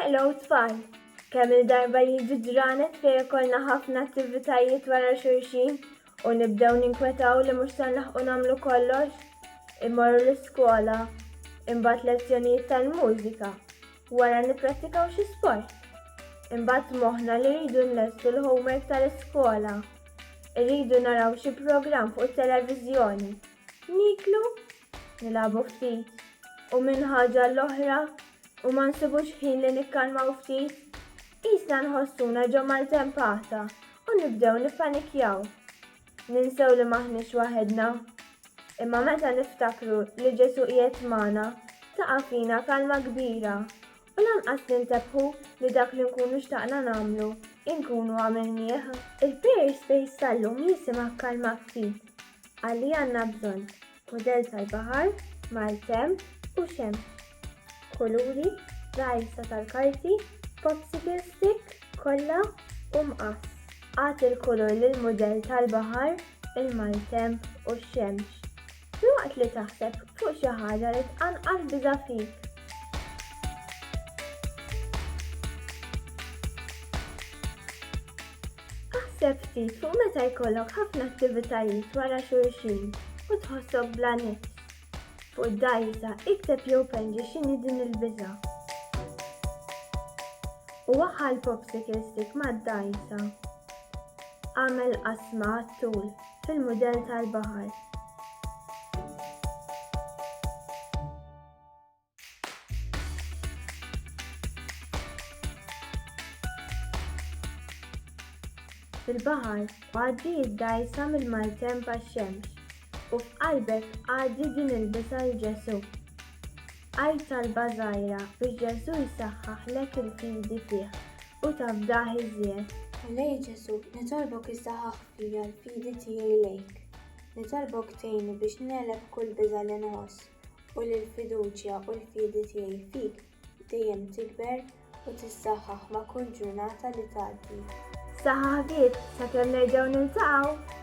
Hello tfal! Kemm il-darba jiġi ġranet fejn ikollna ħafna attivitajiet wara xulxin u nibdew ninkwetaw li mhux se nlaħqu nagħmlu kollox? Immorru l-iskola, imbagħad lezzjonijiet tal-mużika, wara nipprattikaw xi sport. Imbagħad moħħna li rridu nlestu l-homework tal-iskola. Irridu naraw xi programm fuq it-televiżjoni. Niklu nilagħbu ftit u minn ħaġa l-oħra u ma nsibux ħin li nikkalmaw ftit, qisna nħossuna ġo maltempata u nibdew nippanikjaw. Ninsew li maħniex waħedna. Imma meta niftakru li Ġesu qiegħed magħna, taqa' fina kalma kbira U lanqas nintebħu li dak li nkunu xtaqna nagħmlu, inkunu għamilnieh. Il-Pears Space tal-lum jisimgħek kalma ftit għal li għandna bżonn, mudell tal-baħar, maltemp u xemx, kuluri, dgħajsa tal-karti, popsicle stick, kolla u mqass. Agħti l-kulur lill-mudell tal-baħar, il-maltemp u x-xemx. Filwaqt li taħseb fuq xi ħaġa li tqanqal biża' fik. Aħseb ftit fuq meta jkollok ħafna attivitajiet wara xulxin u tħossok bla nifs. Fuq id-dajsa ikteb jew penġi x'inhi din il-biża'. U waħħal popsicle stick mad-dajsa. Għamel qasma għat-tul. fil-mudell tal-baħar. Fil-baħar, għaddi id-dajsa mill-maltemp għax-xemx u f'qalbek għaddi din il-bisa l Ġesu. Għajt talba żgħira biex Ġesu jsaħħaħlek il-fidi fih u tafdah iżjed. Ħallej Ġesu, nitolbok issaħħaħ Hija l-fidi tiegħi lejk. Nitolbok tgħinni biex negħleb kull biża' li nħoss u li l-fiduċja u l-fidi tiegħi fik dejjem tikber u tissaħħaħ ma' kull ġurnata li tgħaddi. Saħħa ħbieb, sakemm nerġgħu niltaqgħu!